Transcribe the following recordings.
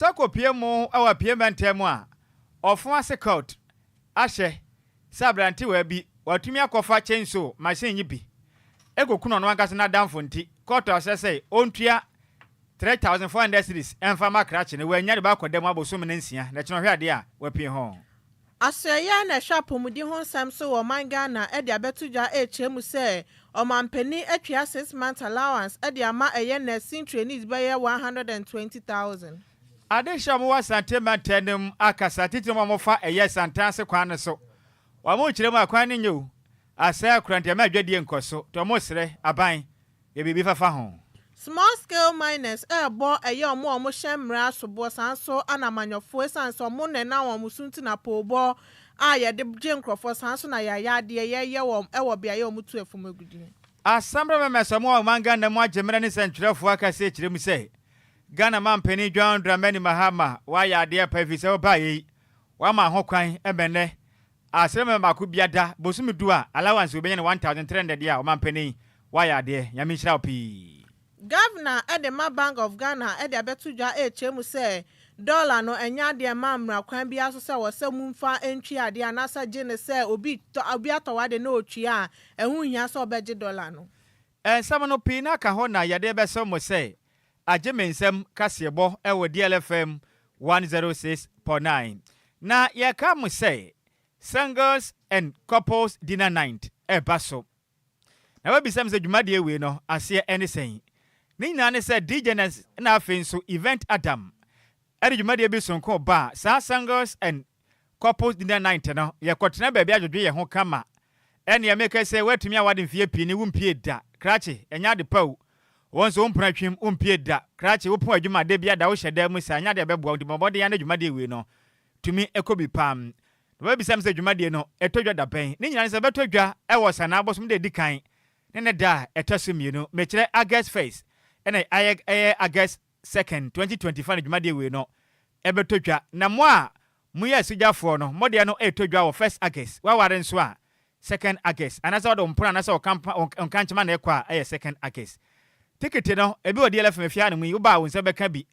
Toko pue mu wɔ Apue Mantam mu a ɔfo ase Kurt ahyɛ sɛ aberantewaa bi watumi akɔfa chainsaw machine yi bi ekokum ɔno ankasa n'adamfo nti Kurt ahyɛ sɛ ontua 3,400 cedis mfa mma krakye no wannya de bɛakɔ da mu abosome no nsia na ɛkyena ɔhwɛ ade a wapue ho. Asoɛeɛ a na ɛhwɛ apɔmuden ho nsɛm so wɔ ɔman Ghana de abɛto dwa rekyerɛ mu sɛ ɔmanpanin atwea six months allowance de ama ɛyɛ nursing trainees bɛyɛ one hundred and twenty thousand. Adehyeɛ a wɔwɔ Asante mantam no mu akasa titire mu a wɔfa ɛyɛ santen ase kwan no so. Wɔkyerɛ mu a kwan no nyɛ o, asɛe akoranteɛ ma adwadie nkɔ so nti wɔsrɛ aban Yɛ biribi fafa ho. Small scale miners rebɔ ɛyɛ ɔmo a ɔmo hyɛ mmrɛ asoboɔ saa nso ana amanyɔfoɔ ɛsiane sɛ ɔmo na ɛnam ɔmo so nti na poobɔ a yɛde gye nkorɔfoɔ saa nso na yɛayɛ adeɛ yɛyɛ wɔ ɛwɔ beaeɛ a ɔmo tu ɛfɔm agudie. Asɛmberɛ Mɛmɛs ɔmo a ɔman Ghana mu agye mmerɛ ne sɛntwerɛfoɔ akɛseɛ kyerɛ mu sɛ Ghana manpanin John Dramani Mahama wayɛ adeɛ pa ɛfiri sɛ ɔbaeɛ yi wama ho kwan ɛma ɛnnɛ A sɛ bɛma baako bia da bosome du a allowance wei bɛnya no one thousand three hundred a ɔmanpanin wayɛ adeɛ Nyame nhyira wo pii. Governor de ma Bank of Ghana de abɛto dwa rekyerɛ mu sɛ dollar no ɛnyɛ adeɛ ɛmma mmra kwan biara so sɛ wɔ sɛ mu mfa ntwi adeɛ anaasɛ gye ne sɛ obi tɔ obi atɔ w'adeɛ na ɔtwi a ɛho nhia sɛ ɔbɛgye dollar no. Nsɛm no pii no aka hɔ na yɛde bɛso mo sɛ agye me nsɛm kaseɛbɔ wɔ DLFM 106.9. Na yɛka mo sɛ Singles and Couples Dinner Night ɛba so. Na wabisa me sɛ dwumadie wei no aseɛ ɛne sɛn? Ne nyinaa ne sɛ Djness na afei nso Event Adam ɛde dwumadie bi sonko baa saa Singles and Couples Dinner Night no, yɛkɔtena baabi adwodwo yɛn ho kama. Ɛnneɛ meka sɛ, Woatumi aware mfeɛ pii ne wompiee da. Krakye, ɛnyɛ ade pa o. Wo nso wo mpono atwim, wompiee da. Krakye, wopɔn adwuma a da biara da wohyɛ dan mu saa, ɛnyɛ adeɛ a ɛbɛboa wo, nti bɔ mmɔden ara na dwumadie wei no tumi kɔ bi pam. Na wabisa me sɛ, Dwumadie no, ɛtɔ dwa da bɛn? Ne nyinaa ne sɛ, ɛbɛtɔ dwa wɔ Ɔsanaa bosome da a ɛdi kan ne ne da a ɛtɔ so mmienu. Mekyerɛ August first, ɛnna ayɛ August second, twenty twenty fa no dwumadie ewei no ɛbɛtɔ dwa na mo a mo yɛ asogyafoɔ no mo deɛ no retɔ dwa wɔ first August waware nso a second August anaa sɛ ɔde wo mpono anaa sɛ ɔkampa ɔnkankyema na ɛkɔ a ɛyɛ second August tikiti no ebi wɔ DLFM fie ha nom yi wobaa wo nsa bɛka bi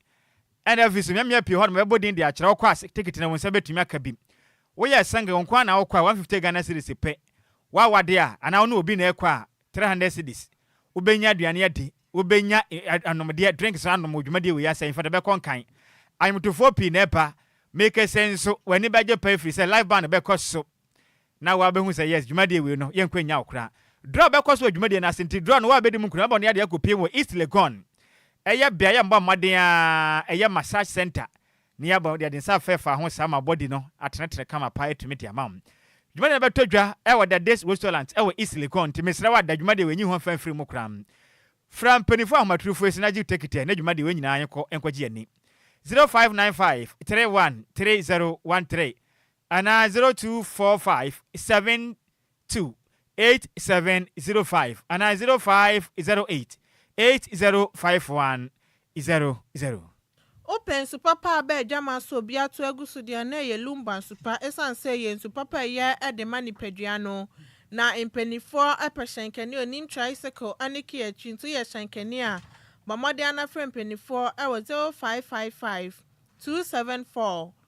ɛna afei so mmeammea pii hɔ nom ɛbɛbɔ din de akyerɛ wokɔ a tikiti no wo nsa bɛtumi aka bi woyɛ single wo nko ara na wokɔ a one fifty Ghana cedis pɛ wawade a anaa wo ne obi na ɛkɔ a three hundred cedis, wobɛnya aduane adi, wobɛnya anomdeɛ, drinks anom wɔ dwumadie wei ase, ahemfo de bɛkɔ nkan. Anwomtofoɔ pii na ɛba, mekese nso, w'ani bɛgye paa ɛfiri sɛ live band bɛkɔ so na wabɛhu sɛ yes, dwumadie wei no, yɛnkɔ nnya wo koraa. Draw bɛkɔ so wɔ dwumadie no ase, nti draw no woabɛdi mu nkunim abɔ ne adeɛ akɔpie wɔ East Legon, ɛyɛ beaeɛ a mobɔ mmɔden ara, ɛyɛ massage centre, Ne aba de ade nsa afɛ fa ho saa ma body no atenetene kama paa atumi de ama wo. Dwumadie no bɛtɔ dwa wɔ Da Days Restaurant wɔ East Legon nti mesrɛ wo a da dwumadie wei nyi ho mfa mfiri mu koraa. Fra mpaninfoɔ ahomaturufo yi se na gye tekitɛ na dwumadie wei nyinaa yɛnkɔ nkɔ gye yɛni. 0595 31 3013 anaa 0245 7 two eight seven zero five anaa zero five zero eight eight zero five one zero zero. Wopɛ nsu papa a bɛ adwaman so obi ato agu so deɛ na ɛyɛ Lumba nsu pa ɛsiane sɛ ɛyɛ nsu papa a ɛyɛ de ma nipadua no. Na mpaninfoɔ pɛ hyɛnkani a ɔnim tricycle ne key akyi nti woyɛ hyɛnkani a bɔ mmɔden na frɛ mpaninfoɔ wɔ zero five five five two seven four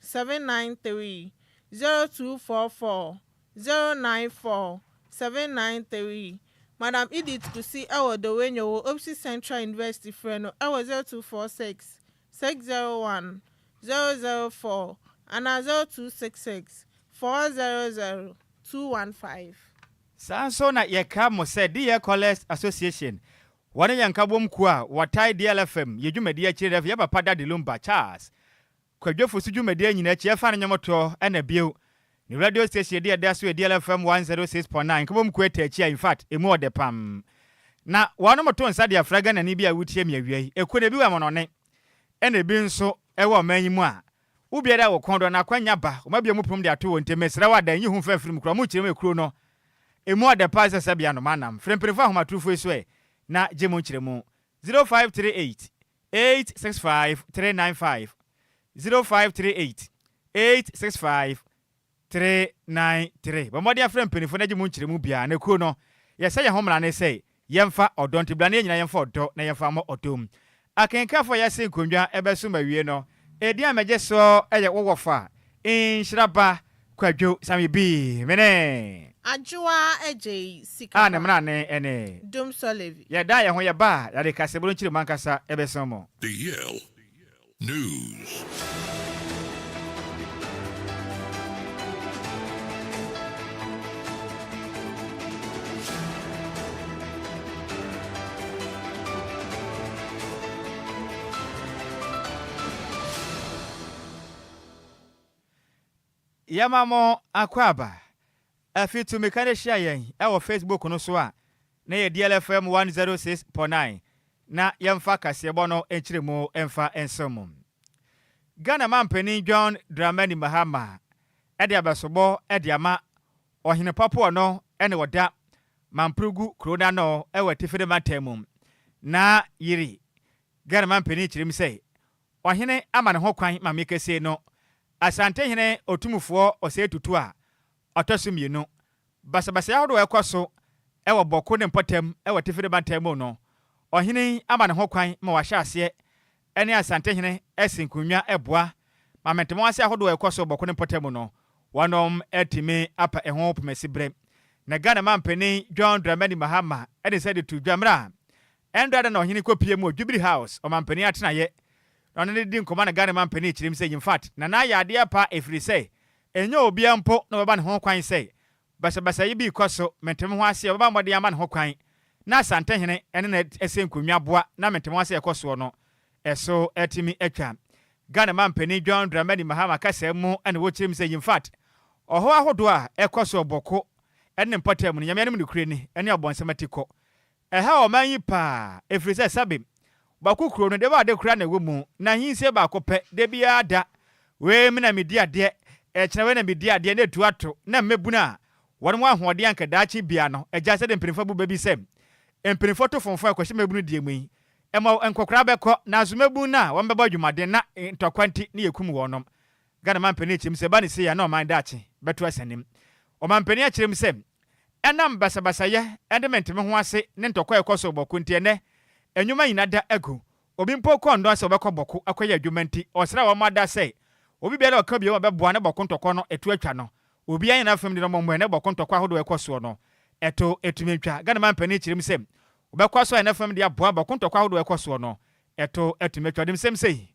seven nine three zero two four four zero nine four seven nine three Madam Edith Kusi wɔ Dowenyo wɔ Opsi Central University frɛ no wɔ zero two four six six zero one zero zero four anaa zero two six six four zero zero two one five. Saa nso na yɛkra mo sɛ Deɛ Callers Association, wɔne yɛn nkabom kuo a wɔtae deɛ lfm yɛ dwumadie akyire Rev Yɛpapa Daddy Lumba Charles Kwadwo Fosu dwumadie nyina akyi ɛfa ne nwomtoɔ ɛna bio ne radio station de ɛda so Adiel FM 106.9 Nkabom Quater akyi a in fact ɛmu ɔdɛ pam na wɔnom to nsa de afra Ghanani bi a wotie me awia yi ɛku no ebi wɔ amonɔne ɛna ebi nso ɛwɔ ɔman yi mu a wo biara a wɔkɔn dɔ na akwanya ba wɔn abue mu pom de ato wɔn nti mesrɛ wo adan yi ho mfa mfiri mu kura wɔn kyerɛ mu ekuro no ɛmu ɔdɛ paa sɛ sɛbea no manam frɛ mpanimfoɔ ahomatorofo yi so ɛ na gye mo nkyerɛ mu 0538 eight six five three nine five zero five three eight eight six five three nine three. Bɔ mmɔden afrɛ mpanyinfoɔ na gye mu nkyerɛmu biara. Na kuo no, yɛsɛ yɛn ho mmara ne sɛ yɛmfa ɔdɔ nti bra na yɛn nyinaa yɛmfa ɔdɔ na yɛmfa mmɔ ɔdɔ mu. Akenkanfoɔ a yɛase nkonnwa bɛso ma awiei no, edin a megye soɔ yɛ wo wɔfa, Nhyira ba, Kwadwo same bii me ne. Adwoaa agyei sika pa. A ne mena ne ɛne. Dum Solevi. Yɛ da yɛ ho yɛ ba a yade kase boro nkyiri mankasa ɛbɛsen mo. The Yale News. Yɛma mo akwaaba. Afi Tumika no hyia yɛn wɔ Facebook no so a na yɛ DLFM 106.9 na yɛmfa kaseɛbɔ no nkyerɛmu mfa nsom mo. Ghana Mampanin John Dramani Mahama de abɛsobɔ de ama Ɔhene Papo ɔno ne ɔda Mamprogu kuro no ano wɔ Atifire mantam mu. Na Yiri, Ghana Mampanin kyerɛm sɛ Ɔhene ama ne ho kwan ma me kesee no, Asantehene Otumfoɔ Osei Tutu a ɔtɔ so mmienu. Basabasayɛ ahodoɔ a ɛkɔ so wɔ Bawku ne mpɔtam wɔ Atifi ne Bantam mu no, ɔhene yi ama ne ho kwan ma wahyɛ aseɛ ne Asantehene asi nkonnwa boa ma mɛntɛmɔn ase ahodoɔ a ɛkɔ so wɔ Bawku ne mpɔtam mu no wɔatumi apa ɛho pomasiberɛ. Na Ghana Manpanin John Dramani Mahama de nsa de to dwa mmerɛ a Ɛnda da na ɔhene kɔ pie mu wɔ Jubilee House, ɔmampanin atenaeɛ, na ɔne no di nkɔmmɔ na Ghana mampanin kyerem sɛ Yimfat Nana ayɛ adeɛ pa ɛfirisɛ ɛnyɛ obia mpo na ɔbɛba ne ho kwan sɛ basabasa yi bi rekɔ so, mente me ho aseɛ ɔbɛba mmɔden ama ne ho kwan na Asantehene ne no asɛ nkonnwa aboa na mente me ho aseɛ ɛkɔ soɔ no ɛso atumi atwa. Ghana mampanin John Dramani Mahama kasaa mu na wɔkyerem sɛ Yimfat ɔhaw ahodoɔ a ɛkɔ so wɔ Bɔko ne ne mpɔtam no Nyame anim nokorɛ ni ne ɔbɔnsam atikɔ Ɛhaw ɔman yi paa, ɛfiri sɛ Sabim, bako kuro no, deɛ ade koraa na ɛwɔ mu, na nyinsee baako pɛ, da biara da, wei me na medi adeɛ, ɛkyena wei na medi adeɛ, na ɛtu ato, na mmabunu a wɔn wɔ ahoɔden anka daakye biara no agya sɛdeɛ mpanimfoɔ abu bɛ bi sɛ, mpanimfoɔ to fomfɔn kɔhyɛ mmabunu deɛ mu yi, ɛma nkɔkoraa bɛkɔ, nanso mmabunu no a wɔn bɛbɔ adwumaden na ntɔkwa nti ne yɛkum wɔnom. Ghana mampanin akyerɛ mu sɛ ɛba no sei a na ɔman daakye bɛto asanim. Ɔmampanin akyerɛ mu sɛ Ɛnam basabasayɛ ne mente-me-ho-ase ne ntɔkwa a ɛkɔ so bɔko nti, ɛnnɛ nnwuma nyinaa da agu. Obi mpo kɔɔ nnɔn sɛ ɔbɛkɔ bɔko akɔyɛ adwuma nti, ɔsrɛɛ wɔn ma daa sɛ obi biara a ɔka bio ma bɛboa ne bɔko ntɔkwa no ɛto atwa no. Obiara nyɛ n'afam de no mmɔmmɔɛ ne bɔko ntɔkwa ahodoɔ a ɛkɔ soɔ no ɛto atumi atwa. Ghana manpanin kyerɛm sɛ ɔbɛkɔ so ayɛ n'afam de aboa bɔko ntɔkwa ahodoɔ a ɛkɔ soɔ no ɛto atumi atwa. Ɔde nsɛm sei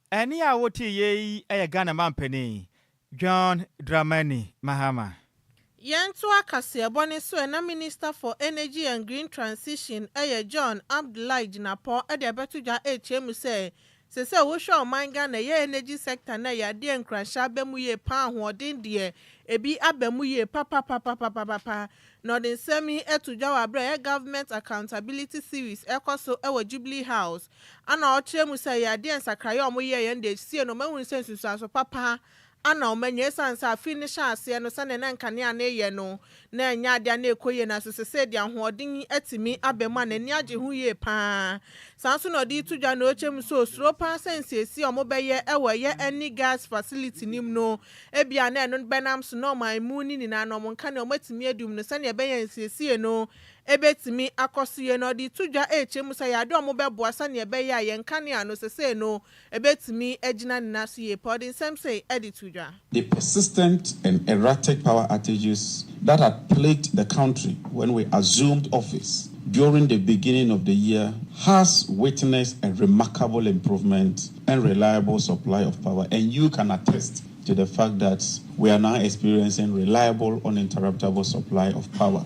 Ɛnne a wote yɛ yi yɛ Ghana manpanin John Dramani Mahama. Yɛntoa kaseɛbɔ no so ɛ na Minister for Energy and Green Transition yɛ John Abdullahi Jinapor de abɛto dwa rekyerɛ mu sɛ, sɛ sɛ wohwɛ a ɔman Ghana yɛ energy sector no yɛ adeɛ a nkuranhyɛ aba mu yie paa ahoɔden deɛ ɛbi aba mu yie papapapapapapa. Na ɔde nsɛm yi to dwa wɔ aberɛ a yɛ Government Accountability Series ɛrekɔ so wɔ Jubilee House, Ana ɔkyerɛ mu sɛ ɛyɛ adeɛ nsakraeɛ a wɔyɛɛ yɛn de siee no mahunu sɛ nsunsuanso papa a na wɔanya ɛsiane sɛ afe no hyɛɛ aseɛ no sɛdeɛ na nkanea no reyɛ no na ɛnyɛ adeɛ a na ɛkɔ yie nanso sesei deɛ ahoɔden atumi aba mu a n'ani agye ho yie pa ara saa nso na ɔde reto dwa na ɔkyerɛ mu sɛ ɔsuro pa ara sɛ nsiesie a wɔbɛyɛ wɔ ɛyɛ ɛne gas facility no mu no ebia na ɛno bɛnam so na wɔn a ɛmu no nyinaa no wɔn nkanea wɔatumi adi mu no sɛdeɛ ɛbɛyɛ a nsiesie no Ebetumi akɔ so yie na ɔde reto dwa rekyerɛ mu sɛ yɛadɔ wɔn bɛboa sɛnea ɛbɛyɛ a yɛn nkanea no seesei no betumi agyina ne nan so yie paa. Ɔde nsɛm sei de too dwa. The persistent and erratic power outages that had plagued the country when we assumed office during the beginning of the year has witnessed a remarkable improvement and reliable supply of power and you can attest to the fact that we are now experiencing reliable uninterruptable supply of power.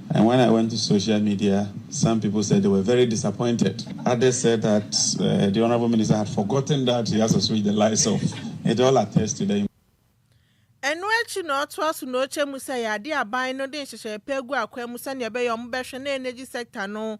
And when I went to social media, some people said they were very disappointed. Others said that uh, the honorable minister had forgotten that he has to switch the lights off. It all attests to the ɛno akyi na ɔtoa so na ɔkyɛ mu sɛ yɛade aban no de nhyehyɛe pa agu akwan mu sɛnea ɛbɛyɛ wɔbɛhwɛ na energy sector no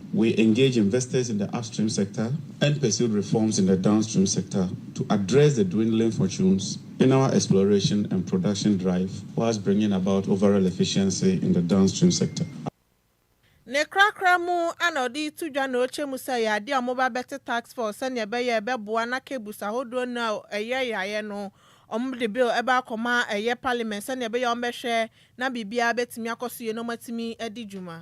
We engaged investors in the upstream sector and pursued reforms in the downstream sector to address the dwindling fortunes in our exploration and production drive whilst bringing about overall efficiency in the downstream sector. Ne korakora mu a na ɔde reto dwa na ɔrekyɛ mu sɛ ɛyɛ adeɛ a wɔbɛba abɛte task force sɛdeɛ ɛbɛyɛ a ɛbɛboa na cables ahodoɔ no a ɛyɛ yaeɛ no wɔde bill ɛba akɔma ɛyɛ parliament sɛdeɛ ɛbɛyɛ a wɔbɛhwɛ na biribiara bɛtumi akɔ so yie na wɔatumi adi dwuma.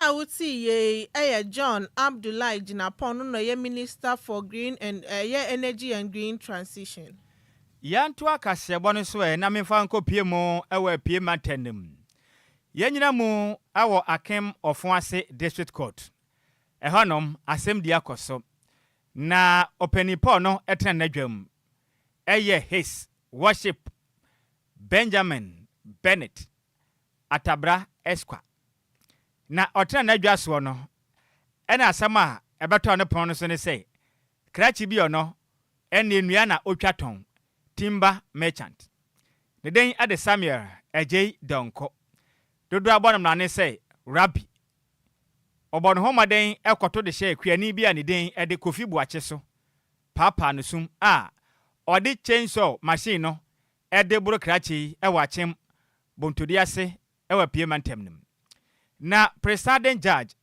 Obi a wo tee yɛ yi ɛyɛ John Abdullahi Jinapong no na ɔyɛ Minister for Green and ɛyɛ Energy and Green Transition. Yɛntoa kaseɛbɔ no so ɛ na memfa nkɔ pie mu wɔ Apue Mantam no mu. Yɛnyina mu wɔ Akem Ɔfon ase District Court. Ɛhɔnom, asɛmdi akɔ so. Na Ɔpanin Paul no tena n'adwam. Ɛyɛ His Worship Benjamin Bennett Atabra Esquah. Na ɔtena n'adwa soɔ no, ɛna asɛm a ɛbɛtɔɔ ne pono no so ne sɛ, Krakye bi ɔnɔ, ɛnneɛ nnua na ɔtwa tɔn, timber merchant. Ne din de Samuel Adjei Donkor. Dodoɔ abɔ no mmara ne sɛ, Rabbi. Ɔbɔɔ ne ho mmɔden kɔto de hyɛɛ kuani bi a ne din de Kofi Boakye so, paapaa no sum a ɔde chainsaw machine no ɛde boro krakye yi wɔ Akyem Bontodua ase wɔ Apue Mantam no mu. Na Presiding Judge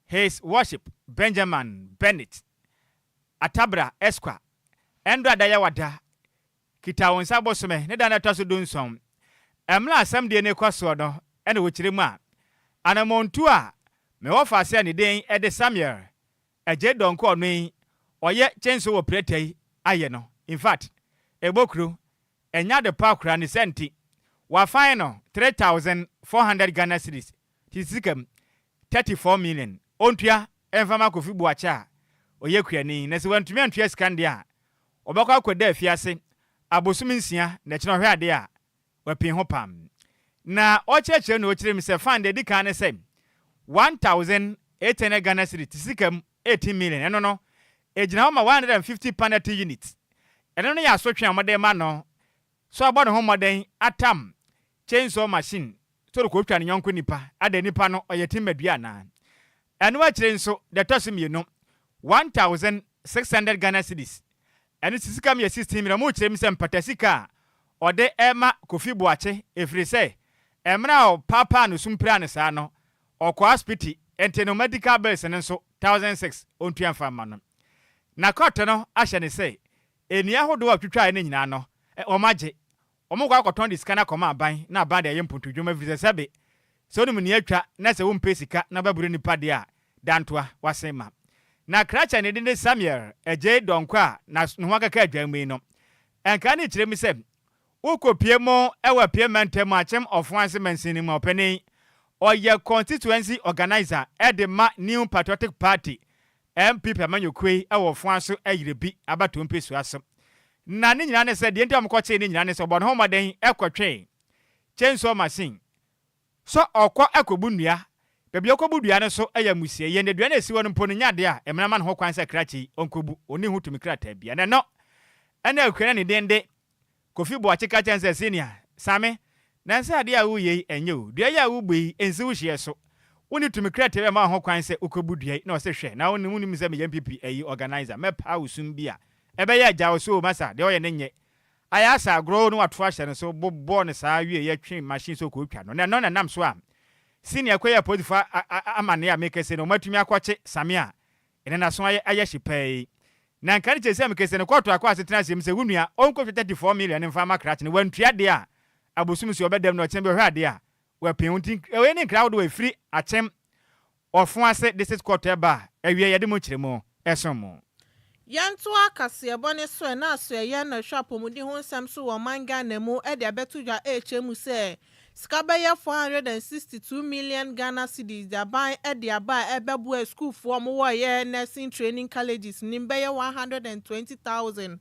His Worship Benjamin Bennett Atabra Esquar ɛndɔ a da yɛ wada kita wo nsa bosome ne da no a ɛtɔ so du nson ɛmla asɛm deɛ no rekɔ soɔ no na wɔkyerɛ mu a anamɔntuo a mewɔ faa sɛ ne din de Samuel Agye Donkor ɔno yi ɔyɛ kyenso wɔ prɛtɛ yi ayɛ no infact ɛbɔ kuro ɛnyɛ ade pa koraa ne saa nti wa fine no 3400 Ghana cedis te sika mu 34 million ɔntua ɛmfa ma Kofi Boakye a ɔyɛ kurani na sɛ wantumi antua sika no deɛ a ɔbɛkɔ akɔ da afiase abosom nsia na ɛkyena ɔhwɛ adeɛ a Wapii ho paa. Na ɔkyerɛkyerɛ na ɔkyerɛ mu sɛ fan deɛ ɛdi kan ne sɛ one thousand eight hundred Ghana cedi te sika mu eighteen million ɛno no ɛgyina hɔ ma one hundred and fifty panati unit ɛno no yɛ asotwe a wɔde rema no so abɔ ne ho mmɔden atam chainsaw machine Toro kotwa ne yɔnko nipa. Adɛn, nipa no ɔyɛ timmadua anaa? Ɛno akyire nso, deɛ ɛtɔ so mmienu, one thousand six hundred Ghana cedis. Ɛno nso sika mu yɛ sixteen million. Wɔkyerɛ mu sɛ mpata sika a ɔde rema Kofi Boakye ɛfiri sɛ mmerɛ a ɔpaapaa no sum piraa no saa no, ɔkɔɔ asopiti nti no medical bills no nso thousand six ɔntua mfa mma no. Na kɔɔto no ahyɛ no sɛ nnua ahodoɔ a ɔtwitwaeɛ no nyinaa no, wɔagye. Wɔkɔ akɔtɔn de sika no akɔma aban na aban de ayɛ mpontodwuma efiri sɛ sɛbe sɛ wonim nea atwa na sɛ wompɛ sika na bɛboro nnipa deɛ a, dantoa, woasen ma. Na krakye a ne din de Samuel Adjei Donkor a na ne ho akeka adwan mu yi no, nkae no kyerɛ mu sɛ, Wokɔpue mu wɔ Apia Mantam Akyem Ɔfon ase mansin no mu a ɔpanin, ɔyɛ constituency organiser de ma New Patriotic Party NPP amanyɔkuo yi wɔ foa so yere bi abatoɔ mpesua so. Na ne nyinaa ne sɛ, deɛ nti a wɔkɔkyee ne nyinaa ne sɛ wɔbɔ ne ho mmɔden kɔtwee chainsaw machine sɛ ɔkɔ kɔbu nnua. Baabi a ɔkɔbu dua no nso yɛ amusieyɛ, na dua no a ɛsi hɔ no mpo no nyɛ adeɛ a mmara ma no ho kwan sɛ krakye yi ɔnkɔbu, ɔnni ho tumi krataa biara. Na ɛno na Akuana Nidende Kofi Boakye ka kyerɛ no sɛ, Senior, Same, nansa ade a woreyɛ yi, ɛnyɛ o. Dua yi a worebu yi, ɛnsi wo hyeɛ so. Wonni tumi krɛtɛɛ bɛma wo ho kwan sɛ wokɔbu dua yi, na ɔse, Hwɛ, na wonim, wonim sɛ meyɛ NPP ayi, organiser, mɛpaa wo sum bi a, ɛbɛyɛ a, gyae ɔso o, masa, deɛ ɔyɛ no nyɛ. Ayɛ asa agorɔ o, na wato ahyɛ no so, bobɔɔ no saa wieeɛ yi, twe machine so kɔtwa no, na ɛno na ɛnam so a, Senior kɔyɛɛ apolisifoɔ amanneɛ a merekɛse no, wɔatumi akɔkye Same a Ena naso ayɛ ayɛ hye paa yi. Na nka ne kyɛ sɛ mekese no kɔɔto akɔ asetena asem sɛ wo nua ɔnkɔ twa 34 million mfa ma krakye no wantua de a abosom so ɔbɛdam na ɔkyena bi ɔhwɛ ade a wapin wo nti ɛwɔ yɛ ne nkra ahodoɔ a ɛfiri akyem ɔfo ase de sit kɔɔto ɛba a ɛwieɛ yɛde mo nkyeremu ɛsom mo. Yɛntoa kaseɛbɔ ne soɛ na asoɛyɛ na ɛhwɛ apɔmuden ho nsɛm so wɔ ɔman Ghana mu de abɛto dwa ɛrekyerɛ mu sɛ Sika bɛyɛ four hundred and sixty two million Ghana cedis de aban de aba a ɛbɛboa asukuufoɔ a wɔyɛ Nursing Training Colleges nim bɛyɛ one hundred and twenty thousand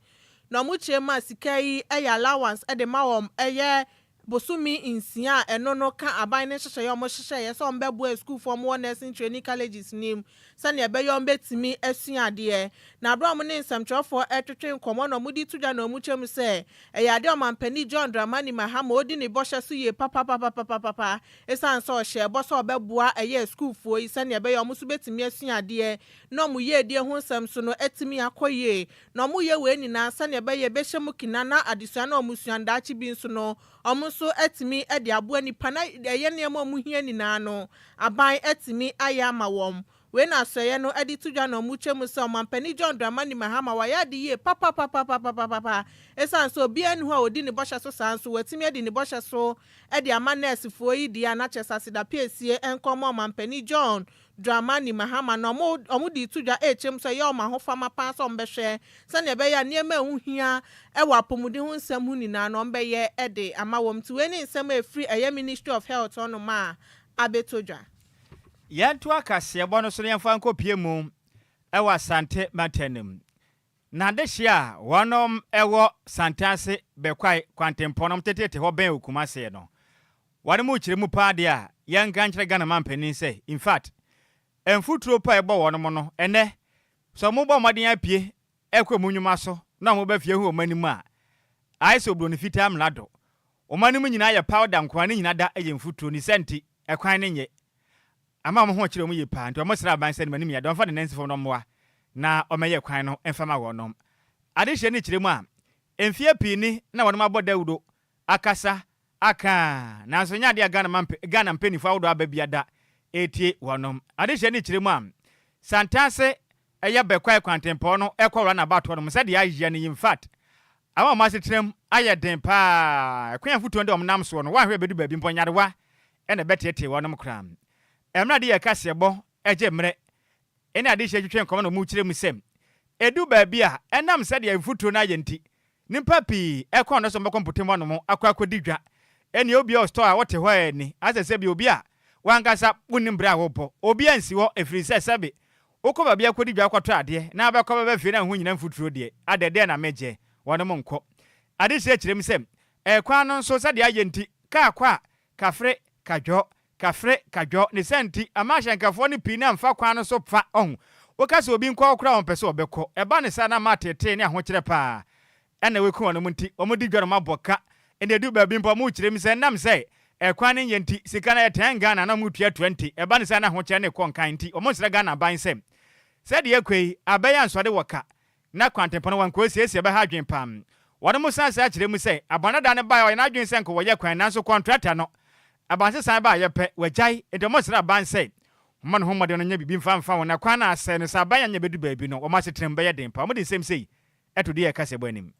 na wɔkyerɛ mu a sika yi yɛ allowance de ma wɔn ɛyɛ bosome nsia a ɛno no ka aban no nhyehyɛeɛ a wɔhyehyɛeɛ sɛ wɔbɛboa asukuufoɔ a wɔwɔ Nursing Training Colleges nim sɛnea ɛbɛyɛ wɔbetumi asua adeɛ. Na berɛ a wɔne nsɛmtwerɛfoɔ retwetwe nkɔmmɔ na wɔde reto dwa na wɔkyɛ mu sɛ, ɛyɛ adeɛ a Ɔmampanin John Dramani Mahama a ɔdi ne bɔhyɛ so yie papapapapapapa ɛsiane sɛ ɔhyɛɛ bɔ sɛ ɔbɛboa ɛyɛɛ sukuufoɔ yi sɛnea ɛbɛyɛ a wɔn nso bɛtumi asua adeɛ ne wɔn yiedie ho nsɛm so no atumi akɔ yie. Na wɔyɛ wei nyinaa sɛnea ɛbɛyɛ ɛbɛhyɛ mu kena na adesua no a wɔsua no daakye bi nso no Wɔn nso atumi de aboa nnipa na ɛyɛ nneɛma a wɔhia nyinaa no, aban atumi ayɛ ama wɔn. Wei na asoɛeɛ no de to dwa na wɔkyerɛ mu sɛ Ɔmampanin John Dramani Mahama wayɛ ade yie papapapapapapapa. Ɛsiane sɛ obiara nni hɔ a ɔdi ne bɔhyɛ so saa nso, watumi adi ne bɔhyɛ so de ama nɛɛsefoɔ yi deɛ a na kyerɛ sɛ aseda piesie nkɔmmɔ Ɔmampanin John Dramani Mahama na wɔn wɔn de reto dwa rekyerɛ mu sɛ ɛyɛ wɔn ahofama paa sɛ wɔbɛhwɛ sɛnea ɛbɛyɛ a nneɛma a ɛho hia wɔ apɔmuden ho nsɛm ho nyinaa no wɔbɛyɛ de ama wɔn nti wei ne nsɛm a ɛfiri ɛyɛ Ministry of Health hɔnom a abɛtɔ dwa. Yɛntoa kaseɛbɔ no so na yɛmfa nkɔpue mu wɔ Asante mantam no mu. N'adehye a wɔnom wɔ Santease Bekwai kwantempɔn nom teteete hɔ bɛn Okumaseɛ no, wɔde mu kyerɛ mu paa deɛ a, yɛnka nkyerɛ Ghana manpanin sɛ, in fact, mfuturo paa a ɛbɔ wɔnom no, ɛnnɛ, sɛ wɔn bɔ mmɔden apue ɛkɔ wɔn nnwuma so na wɔn ba fie ho wɔn anim a, ayɛ sɛ oburoni fitaa mlado, Wɔma no mu nyina yɛ powder nkoaa ne nyina da yɛ mfuturo ne sɛnti ɛkwan ne nyɛ ama wɔn ho kyerɛ wɔn yie paa nti wɔn srɛ aban sɛ ne manim yɛ dɛ wɔn fa ne nansi fam no mmoa na wɔmɛ yɛ kwan no mfa ma wɔnom ade hyɛ ne kyerɛ mu a mfeɛ pii ni na wɔnom abɔ dawuro akasa aka a nanso ɛnyɛ adeɛ a Ghana ma Ghana mpɛnifo ahodoɔ aba bia da ɛretie wɔnom ade hyɛ ne kyerɛ mu a Santase ɛyɛ Bekwai kwantempɔn no kɔ Runabout hɔ nom sɛdeɛ ayɛ no yi infact ama wɔn asetram ayɛ den paa kwan a mfutuo no de wɔn nam soɔ no wanhwɛ ɛbɛdu baabi mpo nyarewa na ɛbɛteetee wɔn nom koraa ɛmmerɛ ade yɛ kaseɛbɔ gye mmerɛ ɛne adehyeɛ twetwe nkɔmɔ na wɔn kyerɛ mu sɛ ɛdu baabi a ɛnam sɛdeɛ mfutuo no ayɛ nti nipa pii kɔn dɔ sɛ wɔn bɛkɔ mpotem hɔ nom akɔ akɔdi dwa ɛneɛ obi a ɔstɔɔ a ɔte hɔ ɛɛni asɛ sɛbi obi a wankasa wonim berɛ a wobɔ obi ansi hɔ ɛfirisɛ sɛbe Wokɔ baabi akɔdi dwa akɔtɔ adeɛ na wobɛkɔ bɛba fie na wo ho nyina mfuturo deɛ, adɛ deɛ na megyɛ? Wɔnom nkɔ. Adekyerɛ kyerɛm sɛ, ɛkwan no nso sɛdeɛ ayɛ nti, kaa kɔ a, kafre, kadwɔ, kafre, kadwɔ, ne saa nti, ama ahyɛnkafoɔ no pii no amfa kwan no so fa, ɔhu. Woka sɛ obi nkɔ hɔ koraa a ɔmpɛ sɛ ɔbɛkɔ. Ɛba no saa na ama ateetee ne ahokyerɛ pa ara. Ɛna wɔakum wɔn nti, wɔde dwa no ma bɔ ka. Ɛna ɛdu baabi mpo a, wɔkyerɛ mu sɛ ɛnam sɛ ɛkwan no nyɛ nti, sika no a ɛtɛn Ghana na wɔtuatua nti, ɛba no sɛ na ahokyerɛ no rekɔ nkan nti, wɔsrɛ Ghana aban sɛ, sɛ deɛ ɛrekɔ yi, abɛyɛ ansoade wɔ ka na kwantempɔn no wɔnkɔ siesie a, ɛbɛha adwene pa ara. Wɔnom san sɛ akyerɛ mu sɛ, abɔndadaa no baeɛ a ɔyɛ n'adwene sɛ nka wɔyɛ kwan nanso kɔntrata no, abansesan baeɛ pɛ, wagyae. Nti wɔsrɛ aban sɛ, wɔmmɔ ne ho mmɔden no nyɛ biribi mfa mfa wɔn na kwan no asɛe no, sɛ aban annyɛ bɛdu baabi no, wɔn asetena mu bɛyɛ den pa ara. Wɔde nsɛm sei Ɛto deɛ ɛka sɛ bɔ anim.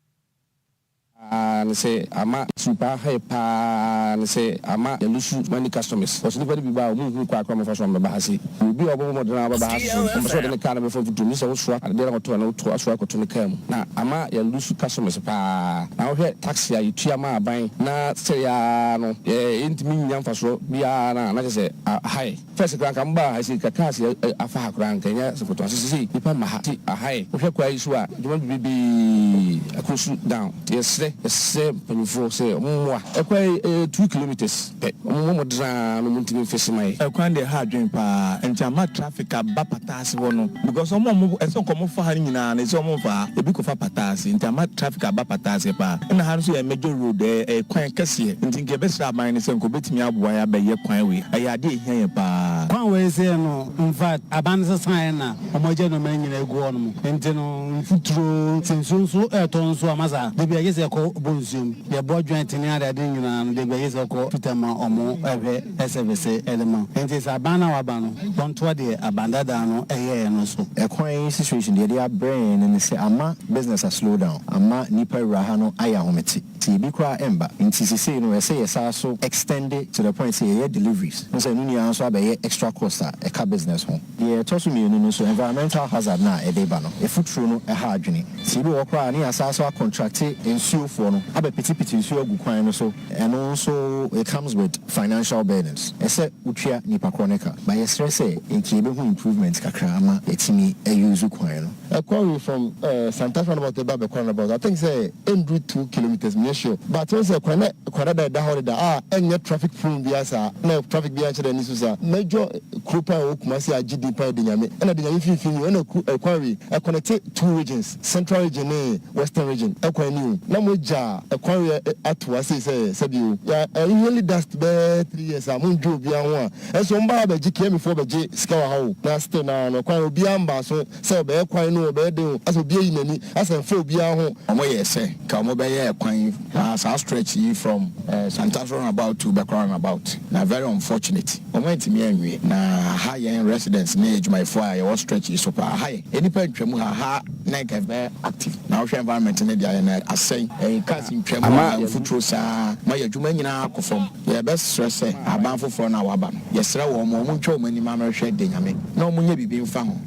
Paa ne sɛ ama su paa high paa ne sɛ ama yɛlusu money customers cos nipa no bi ba a ɔmo nhunu kwan koro a ɔmo fa so a ɔmo bɛba ha se yɛ obi a ɔbɛbɔ mɔden a ɔbɛba ha se ɔmo pɛ sɛ ɔde ne car no bɛfa mfuturo mu gye sɛ wo soa adeɛ no kɔto a na wo to asoa akɔto ne car mu na ama yɛlusu customers paa na wo hwɛ taxi a yɛ tua ma aban na sɛdeɛ aa no yɛ ntumi nnya mfasoɔ biara no a na kyɛ sɛ high First koraa nka mo baa ha sei nka cars yɛ afa ha koraa nka ɛnyɛ asafo tɔn sisi sei nipa mma ha nti aha yɛ wohwɛ kwaa yi so a dwuma bibibee akɔ su down nti yɛsrɛ yɛsrɛ mpanyinfoɔ sɛ ɔmo mmoa ɛkwa yi ɛyɛ two kilometres pɛ ɔmo mmoa mo draa no ɔmo ntumi nfix ma yɛ. Ɛkwan deɛ ɛha adwene paa nti ama traffic aba pata. ase hɔ no because ɔmo a ɔmo ɛsɛ nka ɔmo fa ha no nyinaa no ɛsɛ ɔmo nfa ha ebi kɔ fa pata ase nti ama traffic aba pata ase paa ɛna ha nso yɛ major road ɛyɛ ɛyɛ kwan kɛseɛ nti nka yɛbɛ srɛ aban no sɛ nka ɔbɛtumi aboa yɛ abɛ yɛ kwan wei ɛyɛ adeɛ ɛhia yɛn paa. Kwan wei sɛ yɛ no infact aban no sesa yɛ na ɔmo agya nnoɔma no nyinaa agu hɔ nom nti no mfuturo nti nsuo nso ɛɛtɔ nso ama saa dabi a gye sɛ yɛkɔ bɔ nsuo mu. Deɛ bɔ dwen tene ade ade nyinaa no deɛ gba yie sɛ ɔkɔ Twitter ma ɔmo ɛhwɛ ɛsɛvese ɛde ma wo nti sɛ aban no a waba no ɔntoa deɛ aban dadaa no ɛyɛɛ no so. Ɛkwan yi situation deɛ ɛde abrɛ yɛn no ne sɛ ama business a slow down, ama nipa wura ha no ayɛ ahomete nti ebi koraa ɛmba nti sesei no ɛsɛ yɛsaa so extend to the point sɛ yɛyɛ deliveries, wohu sɛ ɛno nyinaa nso abɛyɛ extra cost a ɛka business ho. Deɛ ɛtɔ so mmienu no nso, environmental hazard no a ɛde ba no, efuturo no ha adwene. Sɛ ebi wɔ hɔ koraa a, ne yɛasan so akɔntrakte nsuofoɔ no abɛpetepete nsuo agu kwan no so, ɛno nso it comes with financial burdens. Ɛsɛ wotua nnipa korɔ no ka. But yɛsrɛ sɛ nka yɛbɛhu improvement kakra ama yɛatumi a use kwan no. Ɛkɔ we from Santas roundabout de ba Bɛkɔ roundabout I think sɛ ɛnduru two kilometres menyɛ sure but wohu sɛ kwan no kwan dada ɛda hɔ deda a ɛnyɛ traffic prone biara saa na traffic biara nhyɛ da nni so saa. Major kuro paa ɛwɔ Kumasi a agye din paa yɛ Denyame ɛna Denyame mfimfini ni o ɛna kuro ɛkwan we ɛconnecte two regions central region ne western region ɛkwan ni o na mo agya ɛkwan we ato hɔ asei sɛ sɛbi o yɛ ɛnhale dust bɛɛ three years a mo ndwe obiara ho a Nso wɔn baa bɛgye Kiami foɔ bɛgye sika wɔ ha o, na still no ara no kwan obiara mbaa so sɛ ɔbɛyɛ kwan no o ɔbɛyɛ den o asɛ obi ayi nani asɛ nfa obiara ho, wɔn yɛɛ sɛ nka wɔn bɛyɛ kwan aa saa stretch yi from eh Santas run about to Bɛkora run about na very unfortunate wɔn antumi anwie na aha yɛn residents ne adwumayɛfoɔ a yɛwɔ stretch yi so paa aha yɛ nnipa ntwa mu ha ha na nka ɛbɛyɛ active na wohwɛ environment no deɛ ayɛ no asɛe eh cars ntwa mu a mfuturo saa ma yɛ adwuma nyinaa kɔ fam. Yɛbɛsrɛ sɛ aban foforɔ no a wɔaba no, yɛsrɛ wɔn ma wɔntwa wɔn ani ma amerɛhwɛ de Nyame, na wɔnyɛ biribi mfa ho.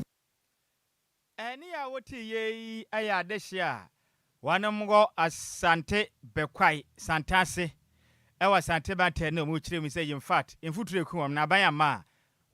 Ɛne a wote yei ɛyɛ adehye a wɔnom wɔ Asante Bekwai Santase ɛwɔ Asante Mantam no a wɔkyerɛ mu sɛ in fact mfuturo eku wɔn na aban amma a